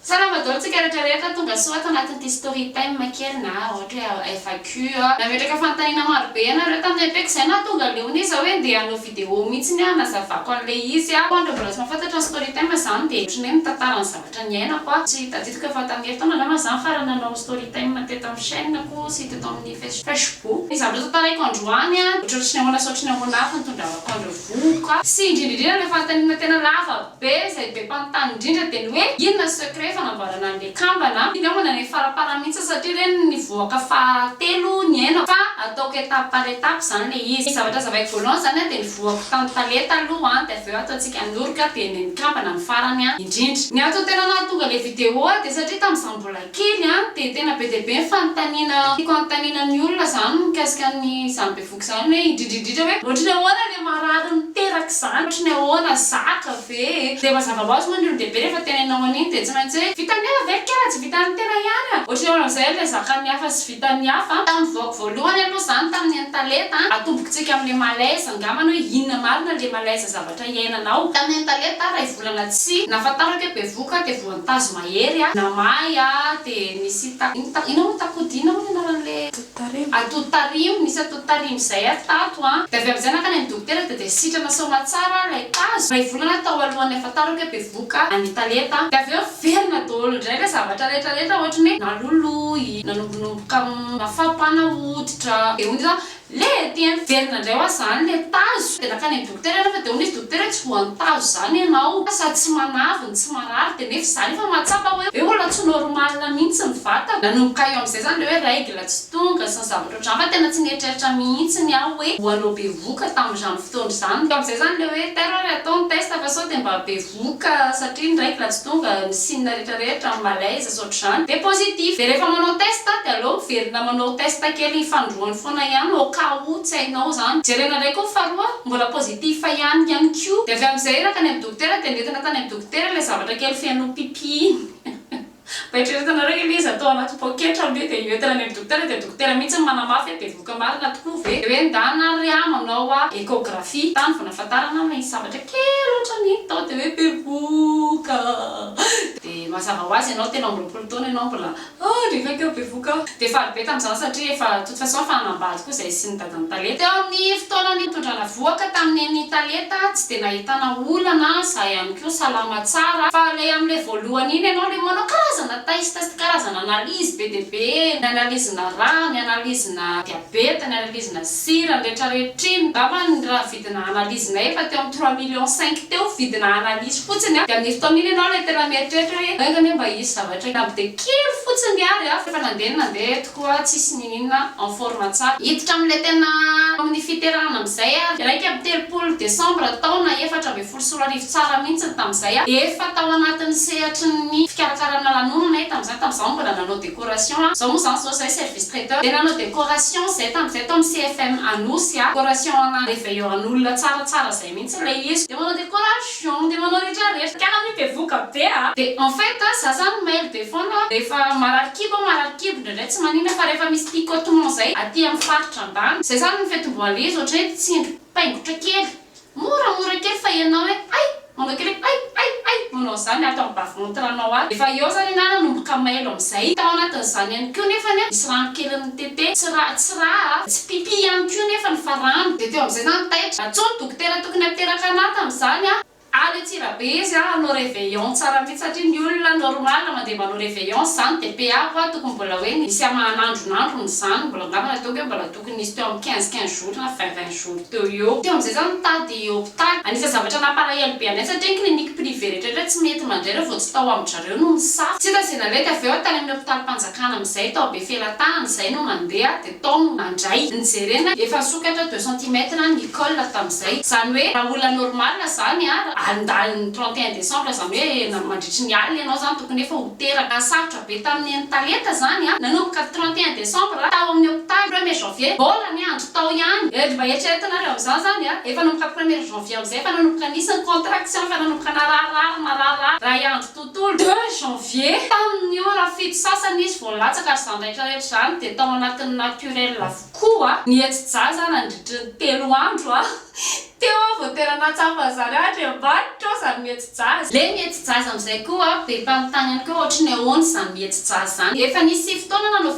Salama dolo tsika rehetra rehetra tonga soa ato anatin'ity story time kely na ohatra hoe FAQ a. Nametraka fanontaniana maro be ianareo tamin'ny EP ko zay nahatonga leona izy hoe ndeha hanao video mihitsy ny aho hanazavako an'ilay izy a. Koa andreo mbola tsy mahafantatra ny story time zany dia ohatran'ny hoe mitantara ny zavatra niainako aho. Tsy tadidiko efa tamin'ny herintaona angamba zany farany nanao story time teto amin'ny chaîne ko sy teto amin'ny facebook. Ny zavatra tantaraiko androany a, ohatran'ny tsy nahoana sy ohatran'ny ahoana avy no tondravako an'ireo vohoka. Sy indrindra indrindra ilay fanontaniana tena lava Be izay be mpanontany indrindra dia ny hoe inona secret fanamboarana an'le kambana a? Ingahy manana ny faraparany mihitsy aho satria re ny nivoaka faha telo nihainako fa ataoko étape par étape zany le izy. Ny zavatra azavaiko voalohany zany a dia nivoako tany tale taloha a dia avy eo ataontsika an'orika dia ny an'ny kambana ny farany a indrindra. Ny antony tena nahatonga le vidéo a dia satria tamin'izaho mbola kely a dia tena be dia be ny fanontaniana tiako anontaniana ny olona zany mikasika an'izany be Izany hoe indrindra indrindra hoe ohatry ny ahoana le marary miteraka izany, ohatry ny ahoana, zaka ve e? Dia mazava ho azy moa ny olon-dehibe rehefa teneninao an'iny dia tsy maintsy hoe vitan'ny hafa ve ny kely raha tsy vitan'ny tena ihany an? Ohatry ny ahoana amin'izay ilay zakan'ny hafa sy vitan'ny hafa? Tamin'ny vaoko voalohany aloha izany tamin'ny an'i Taleta an, atombokitsika amin'ilay malaise angambany hoe inona marina ilay malaise zavatra iainanao. Tamin'ny an'i Taleta iray volana tsy nahafantarako hoe bevohoka dia voantazo mahery aho, namay aho dia nisy ta, inona moa, takodia inona moa ny anaran'ilay. Tariho. Ato tariho, nisy ato tariho izay ato tato an. Dia avy amin'izay nankany amin'ny dokotera dia dia sitrana soamatsara ilay tazo, iray volana tao alohan'ny ahafantarako hoe bevoka ny talenta. Dia avy eo velona daholo indray ilay zavatra rehetra rehetra ohatran'ny hoe naloloy, nanombonomboka mafapana hoditra, dia hoy ny dokotera hoe le! Ety an! Velona indray ho'a izany ilay tazo. Dia nankany amin'ny. Dokotera rehefa dia hono izy dokotera hoe tsy voantazo izany ianao sady tsy manavy ny tsy marary dia nefa izany efa mahatsapa hoe hoe olona tsy normal mihitsy ny vatana. Nanomboka eo amin'izay izany ilay hoe règle tsy tonga sy ny zavatra ohatr'izany fa tena tsy nieritreritra mihitsy ny ahy hoe ho anao bevoka tamin'izany fotoana izany. Teo amin'izay izany ilay hoe tairo ary atao ny test fa sao dia mba be doka satria ny raiko raha tsy tonga ny signe rehetra rehetra malaise sy ohatr'izany dia positif dia rehefa manao test dia aleo miverina manao test kely ny fanindroany foana ihany au cas où tsy hainao izany jerena indray koa ny faharoa mbola positif ihany ihany koa dia avy amin'izay iraka any amin'ny dokotera dia nentina tany amin'ny dokotera ilay zavatra kely feno pipi iny. Mba eritreretanareo hoe ilay izy atao anaty poketra aloha dia io entana any amin'ny dokotera dia dokotera mihitsy no manamafy hoe bevohoka marina tokoa ve? Dia hoe ndana ry a manao a échographie tany vao nahafantarana hoe misy zavatra kely ohatran'ny hita tao dia hoe bevohoka a! Dia mazava ho azy ianao telo amby roapolo taona ianao mbola a! Rehefa keo bevohoka a! Dia faly be tamin'izany satria efa toute façon efa hanambady koa izay sy ny. Ny talenta eo amin'ny fotoana nitondrana vohoka tamin'ny eny talenta tsy dia nahitana olana za ihany koa salama tsara fa le amle voalohany iny ianao le manao karazana test karazana analyse be dia be ny analyse-na rà ny analyse-na diabeta ny analyse-na sira ny retraretra iny ngamba ny raha vidina analyse-na efa teo amin'ny trois millions cinq teo vidina analyse fotsiny a dia amin'iny fotoana iny ianao le tena mieritreritra hoe enga anie mba hisy zavatra namby dia kely fotsiny ary a fa efa nandeha ny nandeha eto. Koa tsisy nininona en forme tsara. Hiditra amin'ilay tena amin'ny fiterahana amin'izay ary iraika amby telopolo desambra taona efatra ambin'ny folo sy roa arivo tsara mihitsy ny tamin'izay aho dia efa tao anatin'ny sehatry ny fikarakarana lanonana e tamin'izany tamin'izaho no mbola nanao décoration a izao moa izany izao izahay service traiteur dia nanao décoration izahay tamin'izay tao amin'ny CFM Anosy a décoration ana réveillons an'olona tsaratsara izay mihitsy ilay izy dia manao décorage Pion de manao rehetra rehetra kala mi bevoka be a. De en fait za zany maire be foana rehefa marary kibo aho marary kibo indraindray tsy manina fa rehefa misy picotement zay aty am faritra ambany zay zany ny fetim-boalez ohatry hoe tsindry paingotra kely moramora kely fa enao hoe ay manao kely hoe ay ay ay manao zany ato am bas ventre anao ato efa eo zany enao nanomboka mailo amzay tao anatin zany ihany ko nefany a misy rano kely nitete tsy ra tsy ra a tsy pipi ihany ko nefany fa rano de teo amzay zany taitra atsonto Tena tokony miteraka anah tam zany ah. Any Antsirabe izy a hanao reveillon tsara mihitsy satria ny olona normal mandeha manao reveillon zany de PA koa tokony mbola hoe nisy hamahan'andron'androny izany mbola angamba ny ataoko hoe mbola tokony nisy teo amin'ny quinze quinze jours na vingt vingt jours teo ho eo teo amin'izay zany mitady hopitaly anisan'ny zavatra nampalahelo be anay satria ny clinique privé rehetraretra tsy mety mandray raha vao tsy tao amin-dRareo no misafo tsy hita izay nalety avy eo tany amin'ny hopitalim-panjakana amin'izay tao Befelatany izay no mandeha de Tom, mandray, nijerena, efa nisokatra deux centimètres ny col tamin'izay, zany hoe raha olona normal zany a, andalin'ny trente et un décembre zany hoe mandritry ny alina ianao zany tokony efa ho teraka, sarotra be tamin'ny eny Talenta zany a, nanomboka trente et un décembre tao amin'ny hopitaly premier janvier, mbola ny andro tao ihany, eh ry mba eritrereto nareo amin'izany zany a, efa nanomboka premier janvier amin'izay efa nanomboka nisy ny contraction, efa nanomboka nararirary, nararirary, iray andro to. Tôle de janvier. Tamin'ny ora fito sasany izy vao nilatsaka ary izany rehetra rehetra izany dia tao anatin'ny naturel avokoa. Nihetsi-jaza nandritry ny telo andro teo aho vao tena nahatsapa an'izany aho hatry ambadika ao izany mihetsi-jaza. Ilay mihetsi-jaza amin'izay koa be mpanontany ihany koa hoe ohatry ny ahoana izany mihetsi-jaza izany. Efa nisy sivy taona aho nanao.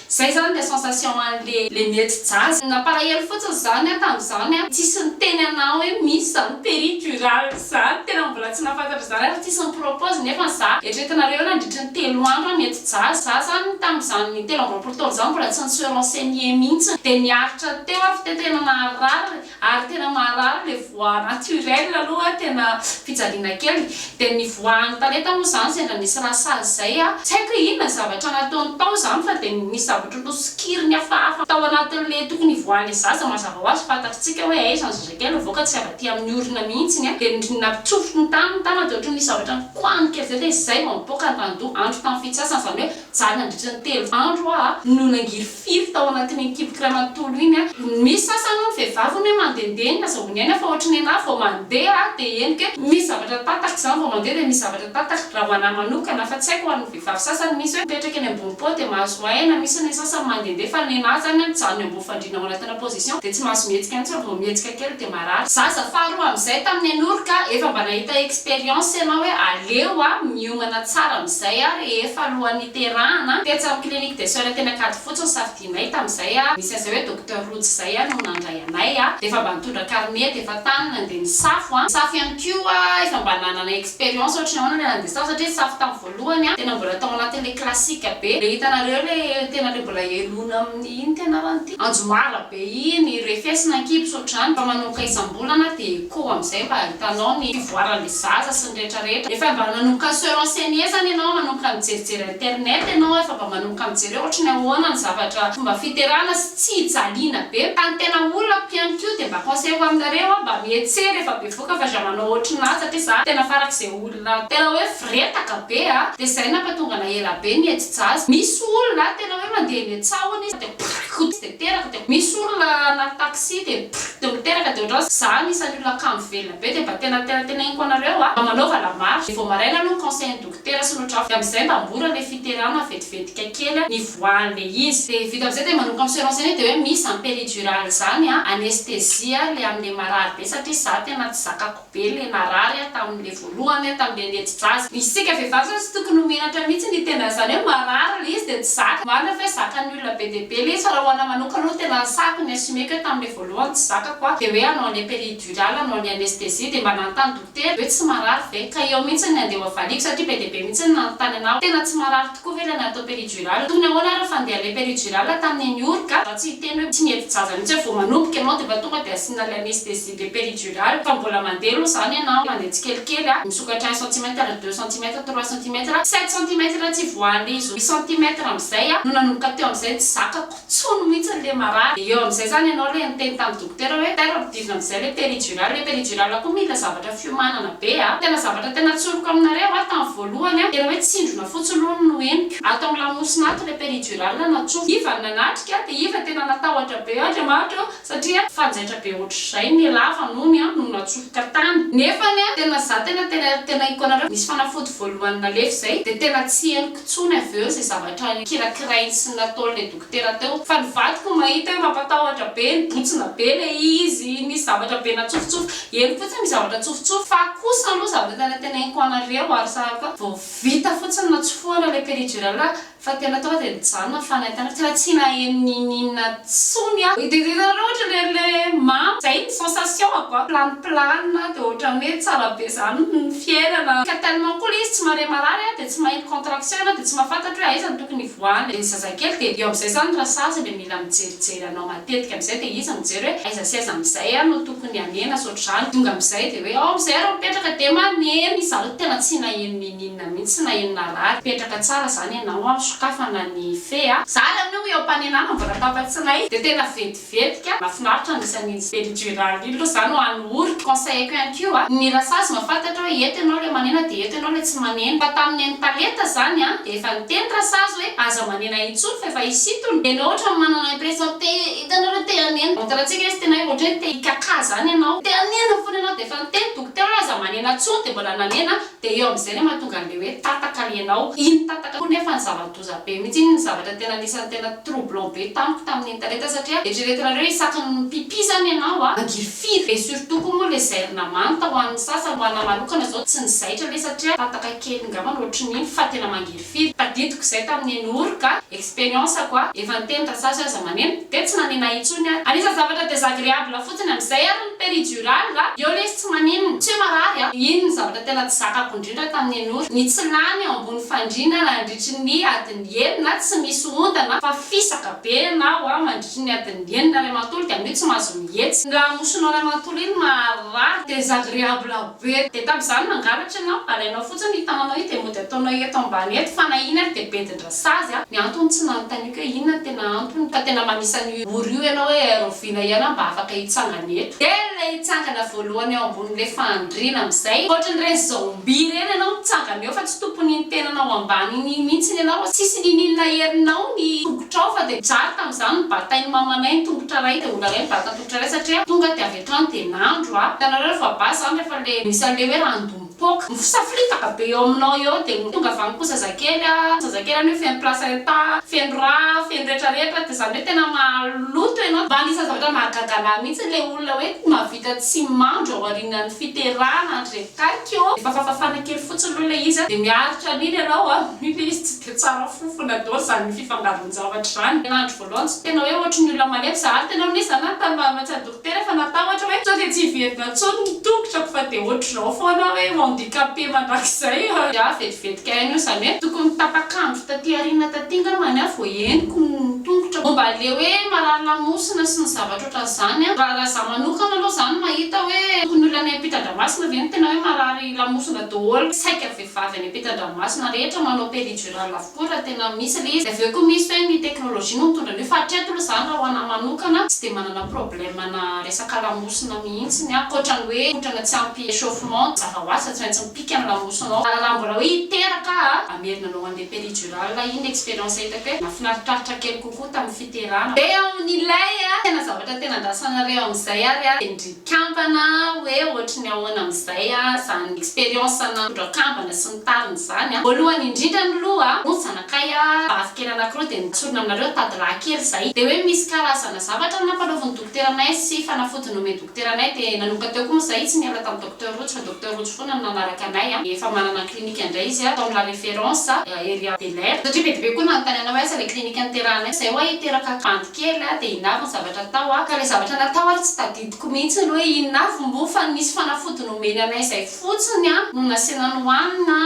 Zay zany le sensation an le le mety jazz. Nampalahelo fotsiny zany aho tamzany an, tsisy niteny anah hoe misy zany peritural zany, tena mbola tsy nahafantatra zany ary tsisy nipropose nefa ny za eritreretinareo eo nandritry ny telo andro an nety jazz za zany tamzany telo amby roapolo taona zany mbola tsy nise renseigner mintsiny de niaritra teo ary f'te tena naharary Ary tena maharary ilay voix naturelle aloha tena fijaliana kely. Dia ny voix an'i Talenta moa izany sendra nisy raha sazy izay a. Tsy haiko hoe inona ny zavatra nataony tao izany fa dia nisy zavatra nosokiriny hafahafa tao anatin'ilay tokony hivoahany ilay zaza mazava ho azy fantatritsika hoe aiza ny zazakely mivoaka tsy avy aty amin'ny orona mihitsy ny ahy. Dia nampitsofotro ny taniny tany dia ohatran'ny nisy zavatra nikoahany kely izay dia izay vao nipoaka ny randoha andro tamin'ny fitsasana izany hoe Zah nandritra ny telo andro hoa no nangirifiry tao anatin'iny kiboky iray manontolo iny a! Misy sasany hono vehivavy hono hoe mandehandeha iny aza vao niaina fa ohatry ny anah vao mandeha aho dia henoko hoe misy zavatra tatako izany vao mandeha dia misy zavatra tatako raha ho anah manokana fa tsy haiko ho an'ny vehivavy sasany misy hoe mipetraka eny ambony pont dia mahazo aina misy ny sasany mandehandeha fa ny anah izany an mijanona eo ambony Fandriana manatona position de tsy mahazo mihetsika mihitsy fa vao mihetsika kely de marary. Zaza faharoa amin'izay tamin'ny an'ory ka efa mba nahita expérience ianao hoe aleo a miomana tsara amin'izay a rehefa alohan'ny hiterahana, tetsy amin'ny clinique des soeurs teny Ankadifotsy no safidianay tamin'izay a, nisy an'izay hoe docteur Rojo zay a no nandray anay a, de efa mba nitondra carnet de efa tany nandeha nisafo a, nisafo ihany koa efa mba nanana expérience ohatry ny ahoana ilay nandeha safo satria nisafo tamin'ny voalohany an, tena mbola tao anatin le classique be, le hitanareo le tena le mbola heloina amin inn ty anarany ty, anjomara be iny, i refesina ankibs otrzany fa manomboka isambolana de echo amzay mba ahitanao ny fivoaran le zaza sy ny rehetra rehetra, efa mba nanomboka se renseigner zany enao manomboka nijerijery internet enao efa mba manomboka mijery hoe otrany ahoana ny zavatra fomba fiterana sy tsy hijaliana be, fa ny tena olako ihany ko de mba conseil ho aminareo an mba mietsery efa be Boka fa za manao otrn azy satria za tena farak'ze olona tena hoe fretaka be a! de zay nampatonga na ela be ny ety jazz misy olona tena hoe mandeha eny an-tsahona izy de prrkk tsy de teraka de misy olona na taxi de prrkk de miteraka de ohatran'zao za anisan'ny olona kamo velona be de mba tena tena teneninko anareo a mba manaova la marche de vao maraina aloha ny conseil ny dok. Petera sy ny drafy amin'izay mba mbola le fiterana vetivetika kely nivoahan le izy de vita amizay de manomboka mi se renseigner de hoe misy zany peridurale zany a anesthésie a le amle marary be satria za tena tsy zakako be le narary a tamle voalohany a tamle netsidraza isika vehivavy zany tsy tokony ho menatra mihitsy ny tena zany hoe marary le izy de tsy zaka marina fa hoe zakan'ny olona be dia be le izy fa raha ho ana manokana aloha tena nisahako ny assumé ko hoe tamle voalohany tsy zakako a de hoe anao ane peridurale anao ane anesthésie de mba nanontany Tena ve tsy marary ve? Ka eo mihitsy ny andeha ho avaliako satria be dia be mihitsy ny nanontany anao. Tena tsy marary tokoa ve ilay natao péridurale? Tokony ahoana ary ny fandehan'ilay péridurale tamin'ny nihory ka? Za tsy hiteny hoe tsy mihevi-jaza mihitsy hoe vao manomboka ianao dia efa tonga dia asiana ilay anesthésie dia péridurale fa mbola mandeha aloha izany ianao, mandeha tsikelikely a, misokatra un centimètre, deux centimètres, trois centimètres, sept centimètres tsy voahan'ilay izy roa centimètres amin'izay aho no nanomboka teo amin'izay ny tsy zakako. tsony mihitsy le marary de eo amizay zany enao le niteny tam dokotera hoe ter ampidirina amizay le peridural le peridural ko mila zavatra fiomanana be a tena zavatra tena tsoriko aminareo a tam voalohany a tena hoe tsindrona fotsiny lohany no henoko ato am lamosina ato le peridural natsofoka iva no nanatrika de iva tena natahotra be eo Andriamanitra o satria fanjaitra be ohatr'izay ny lava nony no natsofoka tany nefa ny tena za tena tena tena hiko anareo nisy fanafody voalohany nalefy zay de tena tsy henoko tsony avy eo ze zavatra ny kirakirainy sy nataony le dokotera teo fa ny vadiko mahita hoe mampatahotra be nibotsina be le izy nisy zavatra be natsofotsofoka henoko fotsiny ny zavatra tsofotsofoka fa kosa aloha zavatra tena tena henoko anareo ary sahaka vao vita fotsiny natsofohana le peridurale Fa tena tonga dia nijanona ny fanahy tanako, tena tsy naheno n'ininona tsony aho, nidirira loatra le le mamo, zay ny sensation ako a, plane plane de otrany hoe tsara be zany ny fiainana, ka tellement koa le izy tsy mare marary a, de tsy maheno contraction ianao de tsy mahafantatro hoe aiza no tokony hivoahany, de ny zazakely de eo amizay zany rasazy le mila mijerijery anao matetika amizay, de izy mijery hoe aiza sy aiza amizay aho no tokony hanena sy otrzany, tonga amizay de hoe ao amizay ary mipetraka, de maneno, izy zany tena tsy naheno n'ininona. Na mintsy na eny na rary. Petraka tsara zany ianao a, sokafana ny fe a. Za ary amin'io iom-panenana mbola an-tapantsinay de tena vetivety ka. Mafinaritra ny isan'ny iny sperijural iny lo za no any ory. Conseil-ko ihany ko a, ny rasazy mahafantatra oe eto ianao le manena de eto ianao le tsy manena. Fa tamin'ny neny talenta zany a de efa niteny rasazy oe aza manena intsony fa efa hisintona. De enao otrany manana impression te hitanao le te hanena. Montre-ntsika izy tena hoe otrany te hikakà zany ianao. Te hanena fona ianao de efa niteny dokotera oe aza manena tsony de mbola nanena. Dia eo amin'izay no mahatonga an'ilay hoe tataka ianao. Iny tataka koa nefa no zava-doza be mihitsy. Iny no zavatra tena anisan'ny tena troublant be tamiko tamin'ny internet satria eritreretinareo isaky ny mi-pipi izany ianao a, mangiry firy? Dia surtout koa moa ilay zairina manta ho an'ny sasany, ho anahy manokana izao tsy ny zaitra aloha satria tataka kely ngambany ohatrin'iny fa tena mangiry firy? Firy tadidiko izay tamin'ny eny Ory ka expérience ko a! Efa niteny ta sazy aza maneno dia tsy nanena intsony ary. Anisany zavatra désagréable fotsiny amin'izay ary ny péridurale a! Eo lesy tsy maninona, tsy hoe marary a! Iny ny zavatra tena tsy zakako indrindra tamin'ny eny Ory, ny tsy lany eo ambony fandriana nandritry ny adiny enina tsy misy ondana fa fisaka be ianao a! Mandritry ny adiny enina ray manontolo dia amin'io tsy mahazo mihetsika. Ny lamosinao ray manontolo iny maharary, désagréable Rehetra dia tamin'izany mangalatra ianao, alainao fotsiny io tananao io dia mody ataonao eto ambany eto fa na iny ary dia bedin-dra sazy a! Ny antony tsy nanontaniako hoe inona no tena antony ka tena manisa an'io ora io ianao hoe Aerovina ianao mba afaka hitsangana eto. Dia ilay hitsangana voalohany eo ambonin'ilay fandriana amin'izay ohatran'ireny zombie ireny ianao mitsangana eo fa tsy tompon'iny tenanao ambany iny mihitsiny ianao fa tsisy niniana herinao ny tongotrao fa dia mijaly tamin'izany ny batain'ny mamanay ny tongotra iray dia olana hoe ny batan'ny tongotra iray satria tonga dia avy Tany dia nandro aho. Hitanareo fa basy izany rehefa le misy an'le hoe ran'do mipoaka. Mifosafilitaka be eo aminao eo dia tonga avy any koa zazakely a. Zazakely anio feno placenta, feno rà, feno retraretra dia izany hoe tena maloto ianao. Mba anisan'ny zavatra mahagaga anahy mihitsy ilay olona hoe mahavita tsy mandro aorianan'ny fiterahana an-dry reto kaiky ô. Efa fafafana kely fotsiny aloha ilay izy a. Dia miaritra an'iny ianao a. Ilay izy tsy dia tsara fofona daholo izany fifangaron-javatra izany. voalohany tsy tena hoe ohatry ny olona malemy za ary tena hoe za nanontany mahametsy an'i dokotera efa natahotra hoe sao dia tsy hiverina intsony ny tongotrako fa dia ohatr'izao foana aho hoe handicapé mandrakizay a! Za vetivety kay anio izany hoe tokony tapak'andro taty aoriana taty ngambany aho vao henoko ny tongotrako. Momba an'ilay hoe marary lamosina sy ny zavatra ohatran'izany a, raha za manokana aloha za no mahita hoe tokony olona any ampitan-dranomasina ve no tena hoe marary lamosina daholo saika vehivavy any ampitan-dranomasina rehetra manao péridurale avokoa? Koa raha tena misy ilay izy dia avy eo koa misy hoe ny teknolojia no mitondra an'io fa hatreto aloha izany raha ho anah manokana tsy dia manana problème ana resaka lamosina mihitsiny aho ankoatra ny hoe kotrana tsy ampy échauffement mazava ho azy fa tsy maintsy mipika ny lamosinao fa raha mbola hoe hiteraka aho hamerina anao handeha péridurale aho iny ny expérience hitako hoe nafinaritraritra kely kokoa tamin'ny fiterana. Dia amin'ilay tena zavatra tena andrasanareo amin'izay ary dia ny. Kambana hoe ohatry ny ahoana amin'izay izany expérience nitondra kambana sy ny tariny izany. Voalohany indrindra miloha, hono zanakay a, vavy kely anankiroa dia notsorina aminareo tady lahy kely izay. Dia hoe misy karazana zavatra nampanaovin'ny dokotera anay sy fanafody nomen'ny dokotera anay dia nanomboka teo koa moa izay tsy niala tamin'i Docteur Rojo fa Docteur Rojo foana no nanaraka anay a. Efa manana ny clinique indray izy tao amin'ny La Référence, ery Belair. Satria be dia be koa no nanontanianao hoe aiza ilay clinique niterahanay, izay ho'a hiteraka bandy. kely aho dia inona avy ny zavatra atao aho ka ilay zavatra natao ary tsy tadidiko mihitsy ny hoe inona avy moa fa ny misy fanafody nomeny anay izay fotsiny no nasiana nohanina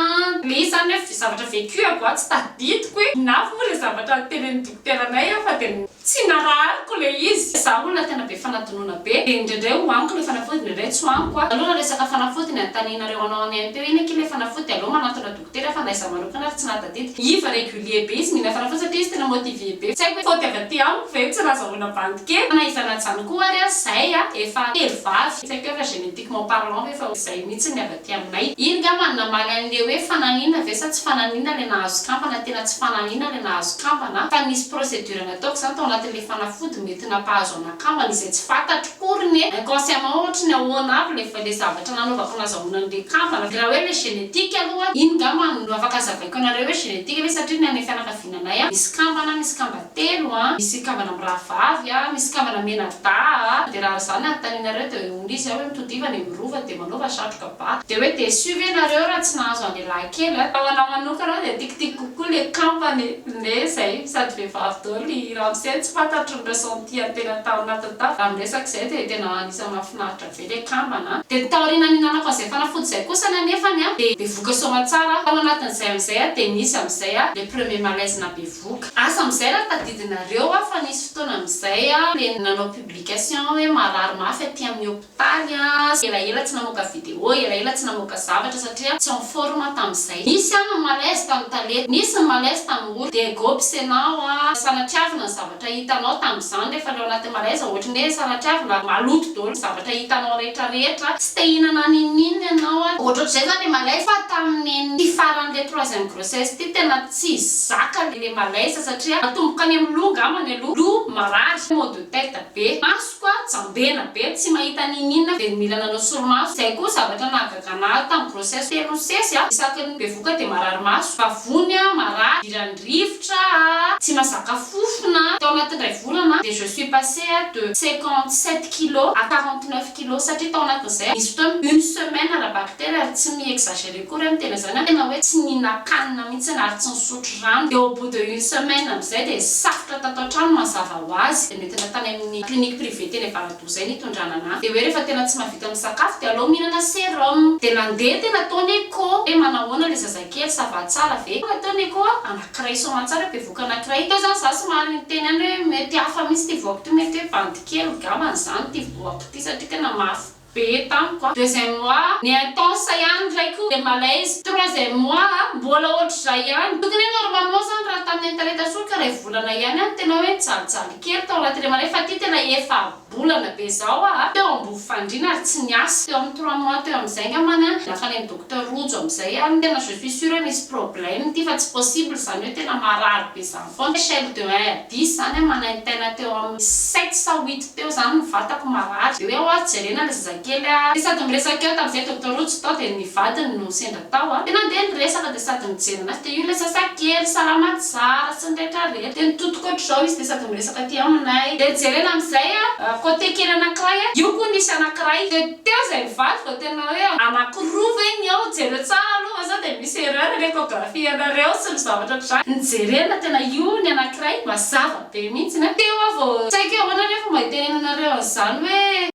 ilay izy izany hoe zavatra vécu aho tsy tadidiko hoe inona avy moa ilay zavatra notenenin'ny dokotera anay aho fa dia tsy narahariko ilay izy izaho olona tena be fanadinoana be dia indraindray ho aniko ilay fanafody indraindray tsy ho aniko a! aleo raha resaka fanafody ny anontanianareo anao any AMP hoe inona akia ilay fanafody dia aleo manantona Tena fa na izaho manokana ary tsy nahy tadidiko. Iva régulier be izy mila fanafody satria izy tena motivé be. Tsy haiko hoe faute avy aty amiko ve io tsy nazahoana bandy kely. Fa na izany na izany koa ary aza izahay a efa telo vavy. Tsy haiko hoe efa génétiquement parlant ve fa izay mihitsy ny avy aty aminay. Iny nga man namaly an'le hoe fananina ve sa tsy fananina le nahazo kambana tena tsy fananina le nahazo kambana fa nisy procédure nataoko zany tao anatin'le fanafody mety nampahazo ana kambana izay tsy fatatro. Pour ny inconsciemment ohatry ny ahoana avy le le zavatra nanaovako nazahoana an'le kambana de raha hoe le génétique aloha iny ngamba no afaka azavaiko anareo hoe génétique ve satria ny anay fianakaviananay a misy kambana misy kamba telo a misy kambana mirahavavy a misy kambana menardaa a de raha ary zany anontanianareo de hoe hono izy a hoe mitodiva any amin'ny rova de manaova satroka ba de hoe déçu ve nareo raha tsy nahazo an'le lahikely a fa ho anah manokana de tikitiko kokoa le kambana e le zay sady vehivavy daholo i ramose tsy fantatro ny raison Tia tena tao anatin'ny tafika izany resaka izay dia tena anisan'ny mahafinaritra be ilay kambana an! Dia ny taoriana nihinanako an'izay fanafody izay kosany anefany an, dia bevoka soamantsara aho, tao anatin'izay amin'izay an, dia nisy amin'izay an, ilay premier malaise nahabevoka. Asa amin'izay raha tadidinareo an, fa nisy fotoana amin'izay an, dia nanao publication hoe marary mafy aty amin'ny hôpital, Tany aho elaela tsy namoaka video, elaela tsy namoaka zavatra satria tsy en forme tamin'izay. Nisy ihany ny malaise tamin'ny tale, nisy ny malaise tamin'ny ory. Dia go mpisenao a! Sanatriavina ny zavatra hitanao tamin'izany rehefa le ao anatin'ny malaise ohatry ny hoe sanatriavina maloto daholo ny zavatra hitanao rehetra rehetra. Tsy te hihinana n'inon'inona ianao a! Ohatrohatr'izay izany le malaise fa tamin'ity faran'ilay troisième grossesse ity tena tsy zaka le malaise satria natomboka any amin'ny loha angambany aloha, loha marary, maux de tête be, maso, Toa jambena be tsy mahita n'ininona dia mila nanao solomaso. Izay koa zavatra nahagagana ahy tamin'ny grossesse telo sesy a! Isaky ny bevoka dia marary maso, vavony a, marary, idiran'ny rivotra a, tsy mazaka fofona a! Tao anatin'indray volana dia je suis passée a de cinquante sept kilos à quarante neuf kilos satria tao anatin'izay a nisy fotoana une semaine ara-baky telo ary tsy mi-exagerer akory a ny tena izany a tena hoe tsy nihinan-kanina mihitsiny ary tsy nisotro rano dia au bout de une semaine amin'izay dia safotra tato an-trano mazava ho azy. Nidina tany amin'ny clinique privée teny Avaradoha izay ny hitondrana an'ahy. Dia hoe rehefa tena tsy mahavita misakafo dia aleo mihinana serum. Dia nandeha tena tao ny echo hoe manahoana ilay zazakely, ça va tsara ve? Tonga teo ny echo a, anankiray soamantsara hoe bevoka anankiray. Teo izany izaho somary niteny ihany hoe mety hafa mihitsy ity voako ity, mety hoe bandy kely ngambany izany ity voako ity satria tena mafy. be tamiko a deuxième mois ny intense ihany ndray ko le malaise troisième mois a mbola ohatr'izay ihany tokony hoe normalement zany raha tamin'ny internet soa ka ray volana ihany a tena hoe nijalijaly kely tao anatin'ilay malaise fa ty tena efa bolana be zao a teo ambovofandriana ary tsy niasa teo amin'ny trois mois teo amin'izay ngambany a lasa any amin'ny docteur rojo amin'izay a tena je suis sure misy problème ty fa tsy possible zany hoe tena marary be zany Von Schele de Hair, diso zany an, manaintaina teo amin'ny sept sa huit teo zany ny vatako marary, de hoe oa jerena le zazakely a, de sady miresaka eo tamzay Doctor Rojo tao de ny vadiny no sendra tao a, de nandeha ny resaka de sady nijery anazy, de io le zazakely salama tsara sy ny rehetra rehetra, de nitotoko otrzao izy de sady miresaka aty aminay, de jerena amzay a cote kely anakiray a, io ko nisy anakiray, de. Teo izay nivadika tena hoe anakiroa ve ny ao, jereo tsara aloha fa sao dia misy erreur ny echographie anareo sy ny zavatra ohatr'izany, ny jerena tena io ny anakiray mazava be mihitsy an, teo aho vao tsaiko hoe ahoana re fomba hitenenanareo an'izany hoe.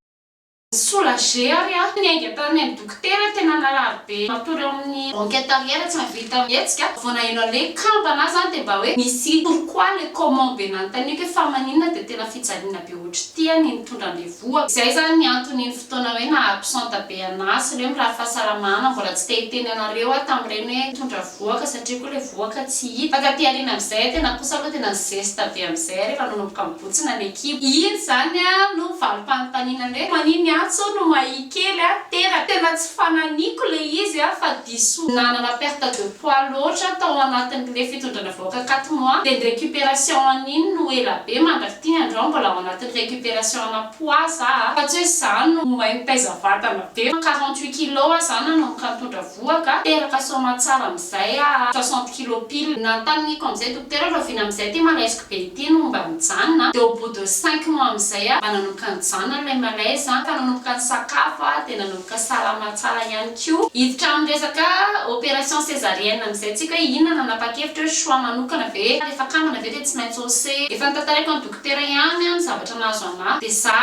Soulager ary aho, ny ainga tany amin'ny dokotera tena narary be matory ao amin'ny enquête arrière tsy nahavita mihetsika, vao naheno an'le kambana aho izany dia mba hoe misy pourquoi le comment be nanontaniako hoe fa maninona dia tena fijaliana be ohatr'ity an ny nitondra an'le Voa. Izay izany ny antony iny fotoana hoe naha absente be anah sy ireo mirary fahasalamana mbola tsy te hiteny anareo aho tamin'ireny hoe mitondra vohoka satria koa ilay vohoka tsy hita. Fa taty aoriana amin'izay aho tena kosa aloha tena ni-zesta be amin'izay aho rehefa nanomboka nibotsina ny ekipa. Iny izany aho no valim-panontaniana hoe maninona aho tso no mahia kely aho teraka. Tena tsy fananiko ilay izy aho fa. diso nanana perte de poids loatra tao anatin le fitondrana vahoaka quatre mois de ny recuperation an'iny no ela be mandraky ty andro aho mbola ao anatin'ny recuperation ana poids za a fa tsy hoe za no mahay mitaiza vatana be fa quarante huit kilos aho za nanomboka nitondra voa ka teraka soamatsara amizay a soixante kilos pile nanontaniako amizay dokotera hoe rahoviana amizay ty malaiseko be ity no mba mijanona de au bout de cinq mois amizay aho mba nanomboka nijanona ilay malaise a ka nanomboka nisakafo aho de nanomboka ka salama tsara ihany koa. Hiditra amin'ny resaka opération césarienne amin'izay tsy haiko hoe inona no hanapa-kevitra hoe choix manokana ve rehefa kambana ve dia tsy maintsy ose efa notantaraiko an'i dokotera ihany ny zavatra nahazo anah dia za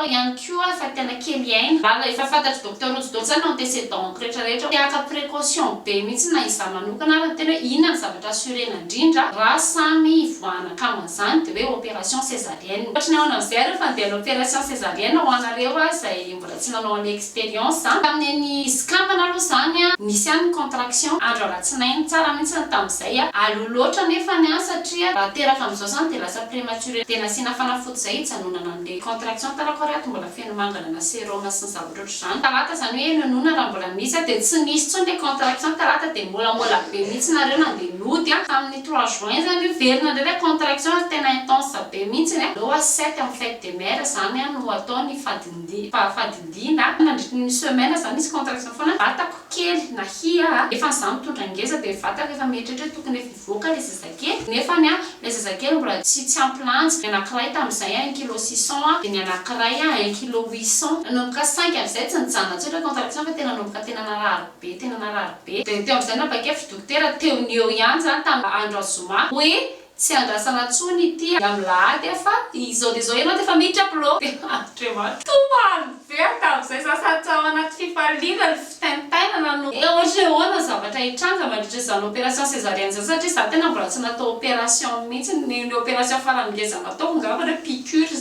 ihany koa efa tena kely aina raha efa fantatr'i docteur rojo daholo izany ny antécédent-ko rehetra rehetra dia haka précaution be mihitsy na izaho manokana ary ny tena hoe inona ny zavatra assurena indrindra raha samy hivoahana kambana izany dia hoe opération césarienne ohatry ny ahoana amin'izay ary io fa ny dia ny opération césarienne ho anareo ary izay mbola Tsy nanao any experience a. Tamin'ny an'i Skambana aloha izany a, nisy ihany ny contraction andro alatsinainy, tsara mihitsy ny tamin'izay a. Aleo loatra nefany an, satria raha teraka amin'izao izany dia lasa prematuré, dia nasiana fanafody izay hijanonana an'ilay contraction tara ko ary ato mbola feno mangana na serum sy ny zavatra ohatr'izany. Talata izany hoe enonoana raha mbola misy a, dia tsy nisy intsony ilay contraction talata dia molamola be mihitsy nareo nandeha nody a, tamin'ny trois juin izany io very nandray ilay contraction ary tena intense be mihitsy a, aleo a sept amin'ny fête des mères izany a no atao ny fadin-. Ny fahafadidiana, nandritry ny semaine izany misy contraction foana, vatako kely nahia, efa izaho mitondra ngeza dia ny vatako efa mieritreritra hoe tokony efa hivoaka ilay zazakely, nefany ilay zazakely mbola tsy tsy ampy lanja, ny anakiray tamin'izay un kilo six cent dia ny anakiray un kilo huit cent, nanomboka saingy avy izay tsy nijanona intsony ilay contraction fa tena nanomboka tena narary be tena narary be, dia teo amin'izay nanapa-kevitra dokotera teo ny eo ihany izany tamin'ny andro zoma hoe Tsy andrasana tsony ity alahady a fa izao dia izao ianao dia efa miditra upload e! Andriamanitra toa alvert amin'izay za sady tao anaty fifaliana ny fitaintainana no hoe ohatra hoe ahoana ny zavatra hitranga mandritra izany opération césarienne izany satria za tena mbola tsy natao opération mihitsy, ny ny opération farany ngeza nataoko ngamba hoe piqûre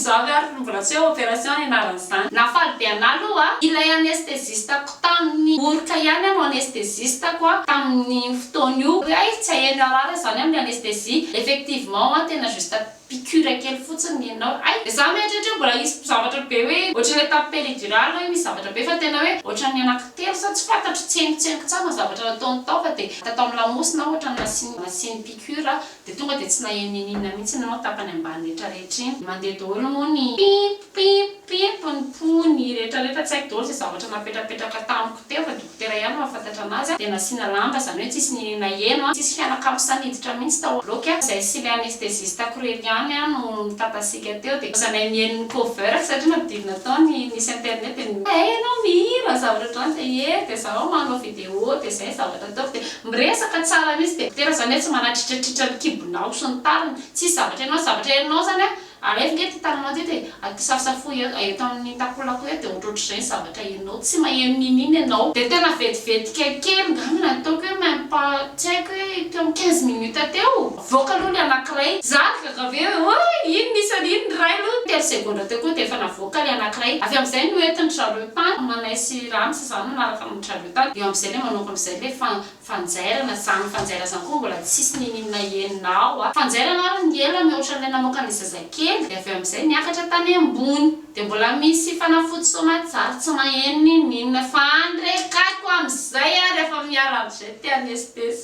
za ve ary mbola tsy hoe opération ny anaran'izany. Nafaly be anah aloha ilay anesthésiste. Tamin'ny oroka ihany aho no anesthésiste-ko a, tamin'iny fotoana io. Hoe hay tsy hahay mirarara izany amin'ny anesthésie. Effectivement a, tena juste piqûre kely fotsiny ny anao. Hay, dia za mieritreritra hoe mbola hisy zavatra be hoe ohatran'ny hoe tamin'ny péridurale hoe misy zavatra be fa tena hoe ohatran'ny anankitelo sa tsy fantatro, tsengotsengo tsara ny zavatra nataony tao fa dia natao amin'ny lamosina aho ohatran'ny nasiany nasiany piqûre Dia tonga dia tsy naheno n'ininona mihitsy ny nao tapany ambany rehetra rehetra iny. Mandeha daholo moa ny pip pip pip ny pony rehetra rehetra tsy haiko daholo izay zavatra napetrapetraka tamiko teo fa dokotera ihany mahafantatra anazy a. Dia nasiana lamba izany hoe tsisy ny naheno a. Tsisy fianakavy sahy niditra mihitsy tao bloc a. Izahay sy ilay anestesiste akorely ihany a no mitatasiaka teo dia lasa nahay niheno ny cover satria nampidirina tao ny nisy internet dia ny Hay ianao mihira zavatra ohatran'izany dia ye dia zaho manao video. Eo dia izay ny zavatra ataoko dia miresaka tsara mihitsy dia tena izany hoe tsy manatritratritra ny kibonao sy ny tariny, tsisy zavatra henonao, zavatra henonao izany hoe alefa nge ity tananao ity dia aty safosafoy eo eto amin'ny takolako eo dia ohatrohatr'izay ny zavatra henonao, tsy maheno n'inon'inona ianao. Dia tena vetivetika kely ngamba ny ataoko hoe même pas tsy haiko hoe teo amin'ny quinze minutes teo, avoaka aloha ny anankiray, za gaga be hoe oay iny nisy an'iny ny ray aloha, telo segondra teo koa dia efa navoaka ilay anankiray, avy amin'izay noentin-dry zareo tany, Manay sy Rano sy izany nanaraka ny. Travolta eo amzay le manoko amzay le fa fanjairana zany fanjaira zany koa mbola tsisy nininona enina ao a fanjairana ary ny ela mihoatran'ilay namoaka ny zazakely de avy amzay miakatra tany ambony de mbola misy fanafody soamatsara tsy maheno nininona fa andrekaiko amzay ary efa miarahaba zay te hanesitesy.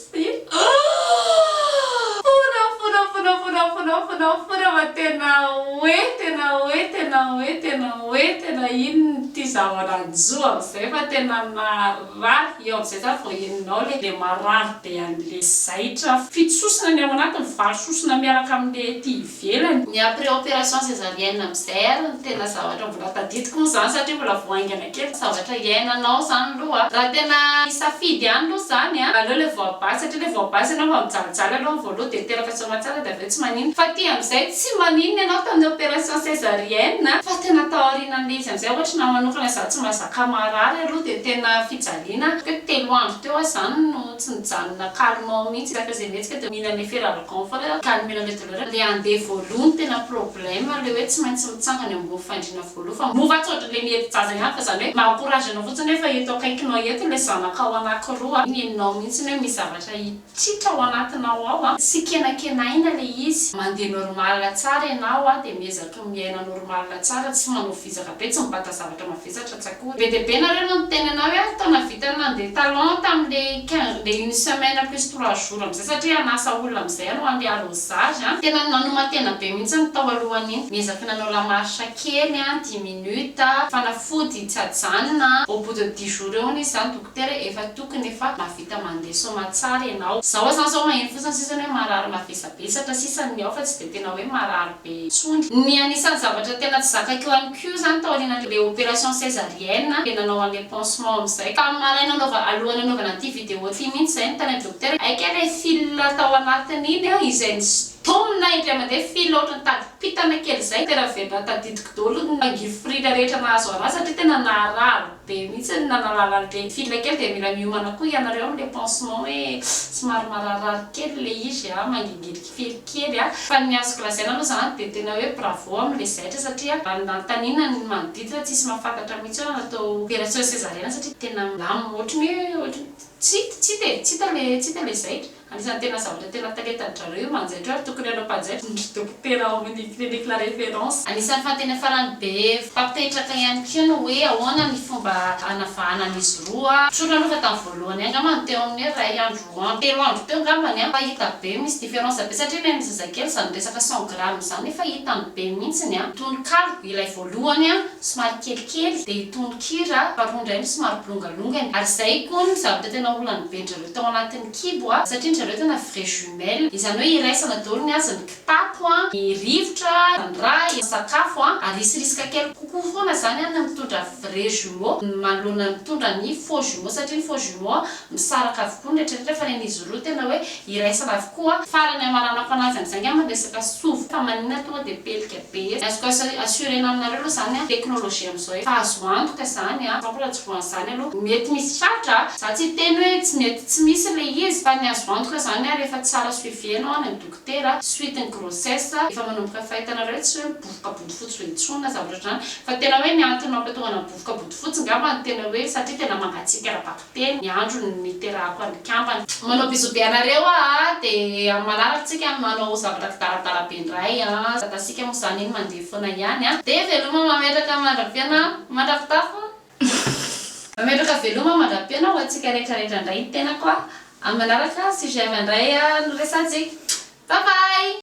Fôrafôrafôrafôrafôrafôrafôrafôra fa tena hoe tena hoe tena hoe tena hoe tena ino ity zava-rajou amin'izay fa tena narary eo amin'izay za vao henonao le dia marary be an'le zaitra fito sosona ny ao anatiny valo sosona miaraka amin'le ity ivelany. Ny après opération césarienne amin'izay ary no tena zavatra mbola tadidiko moa izany satria mbola vao haingana kely ny zavatra hiainanao izany aloha. Raha tena hisafidy ihany aloha izany an, aleo ilay voabahy satria ilay voabahy izy ianao efa mijalijaly aloha ny voalohany dia teraka soamantsara dia avy eo tsy maninona. Fa aty amin'izay tsy maninona ianao tamin'ny opération césarienne fa tena tao aorianan'ilay izy amin'izay ohatra ny ahy manokana izaho tsy mazaka marary aloha dia tena fijaliana hoe telo andro teo aho izany no tsy nijanona calme ao mihitsy rehefa izay mihetsika dia mihinana eferalgan. Bon fa le calmir le douleur le andeha voaloha no tena problème le hoe tsy maintsy mitsangana eo ambony fandriana voaloha fa mora tsy ohatran'le miety jaza ihany fa zany hoe mba encourage anao fotsiny hoe fa eto akaikinao eto le zanakao anakiroa ny nenao mihitsy ny hoe misy zavatra hitritra ao anatinao ao a tsy kenakenaina le izy mandeha normal tsara ianao a de miezaky miaina normal tsara tsy manao vizaka be tsy mibata zavatra Zatra tsakory. Be dia be nareo no niteny anah hoe ary taona vita ny nandeha talon tamin'le quinze le une semaine plus trois jours amizay satria hanasa olona amizay anao handeha arrosage an! Tena nanoman-tena be mihitsy ny tao alohan'iny, niezaky nanao la marche kely an, dix minutes, fanafody tsy ajanona an! au bout de dix jours eo hono izy zany dokotera hoe efa tokony efa mahavita mandeha soamatsara ianao, zao aza zao maheno fotsiny sisa ny hoe marary mavesabesatra sisa ny ao fa tsy dia tena hoe marary intsony. Ny anisan'ny zavatra tena tsy zakaiko ihany koa izany taorian'ilay opération césarienne dia nanao an'ilay pansement amin'izay. Tamin'ny maraina anaova, alohan'ny anaovana ity vidéo ity mihitsy izay no tany amin'ny dokotera, hay kay ilay fil tao anatin'iny izay nistonina indray mandeha, fil ohatran'ny tadim-pitana kely izay, tena velona tadidiko daholo ny angivy frila rehetra nahazo an'ahy satria tena naharary. Be mihitsy ny nanalala an'le fille kely dia mila miomana koa ianareo amin'le pansement hoe somary mararirary kely ilay izy a, mangingirika fery kely a. Fa ny azoko lazaina aloha zany dia tena hoe bravo amin'le zaitra satria raha ny nanontaniana ny manodidina tsisy mahafantatra mihitsy hoe natao opération césarienne satria tena milamina ohatry ny hoe ohatry ny tsy hita tsy hita e, tsy hita le tsy hita le zaitra. Anisan'ny tena zavatra tena talentan-dry zareo io manjaitra io ary tokony hanao mpanjaitra ny ry dokotera ao amin'ny clinique la référence. Anisan'ny fahateny farany be mpampetraka ihany koa ny hoe ahoana ny fomba hanavahana an'izy roa. Tsorina aloha fa tamin'ny voalohany ihany angamba no teo amin'ny hoe iray andro roa andro, telo andro teo angambany an, fa hita be misy différence be satria ilay an'ny zazakely izany resaka cent grammes izany efa hitany be mihitsiny an. Tononkalo ilay voalohany an, somary kelikely, dia tononkira faharoa indray no somary bolongalongany, ary izay koa ny zavatra tena olany be-dry zareo. tao anatin'ny kibo a, satria ny zareo tena vrai jumelle, izany hoe iraisana daholo ny azy, ny kitapo a, ny rivotra, ny rà, ny sakafo a, ary hisy risque kely kokoa foana zany a ny mitondra vrai jumeau manoloana ny mitondra ny faux jumeau, satria ny faux jumeau a misaraka avokoa ny rehetra rehetra, fa ny an'izy roa tena hoe iraisana avokoa. Farany hamaranako anazy amin'izay angamba ny resaka sovoka, maninona tonga dia pelika. Be etsy. Azoko assurena aminareo aloha zany an, teknolojia amizao efa azo antoka zany an, sampla tsy voan'ny zany aloha mety misy tratra an, za tsy hiteny hoe tsy mety tsy misy ilay izy fa ny azo antoka zany an rehefa tsara suivi enao any amin'ny dokotera suite ny grossesse efa manomboka fa hitanareo tsy hoe mibovoka bodofotsy be intsony na zavatra ohatr'izany fa tena hoe ny antony mampatongana mibovoka bodofotsy ngamba no tena hoe satria tena mangatsiaka ara-bakiteny. Dia ny androny niterahako an'i kambana. Manao bisous be anareo aa de am manaraka tsika no manao zavatra kidaradara be ndray aa zatasika mo zany iny mandeha fona ihany aa de veloma mametraka mandra-piana mandra-pitafo mametraka veloma mandra-piana ho antsika rehetra rehetra ndray ny tenako aa am manaraka sujet avy andray aa no resatsika bye bye.